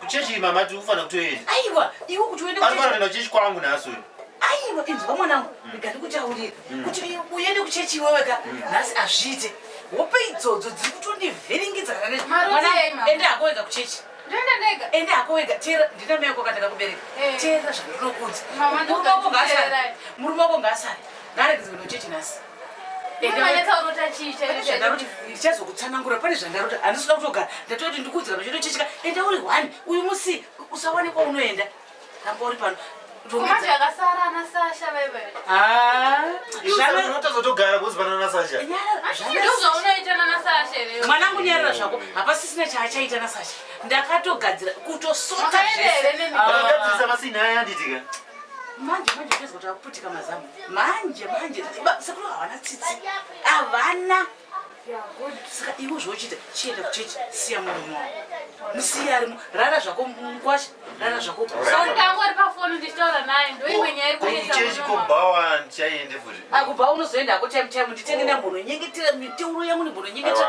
Kuchechi mama tiri kufanira kutoenda. Aiwa, iwe kuti uende kuchechi. Anofanira kuenda kuchechi kwangu nhasi uyu. Aiwa, inzwa mwanangu, mm. rega ndikutaurire mm. kuti uende kuchechi iwewe ka mm. nhasi azviite. Hope idzodzo dziri kutondivhiringidza kana nezvi. Mwana enda hako wega kuchechi. Ndoenda ndega. Enda hako wega, teera ndina mai wako kataka kubereka. Eh. Teera zvandinokuudza. Murume wako ngaasare. Murume wako ngaasare. Ngaregedze kuenda kuchechi nhasi. ndichazokutsanangura pane zvandarota handisi kuda kutogara ndatoda kuti ndikuudzira pachito chechika enda uri one uyu musi usawane kwaunoenda ramba uri pano mwanangu nyarira zvako hapasisina chaachaita nasasha ndakatogadzira kutosota zvese manje manje tezwa takuputika mazamu manje manje sekuru havana tsitsi havana saka ivo zvochita chienda kuchechi siya murume wavo musiya arimo rara zvako mukwasha rara zvako ndangori pafoni ndichitaura naye ndoimwe nyaya ikuchechi kobhawa ndichaiende futi akubhawa unozoenda hako time time nditenge nambono nyengetera miteuro yangu ndimbono nyengetera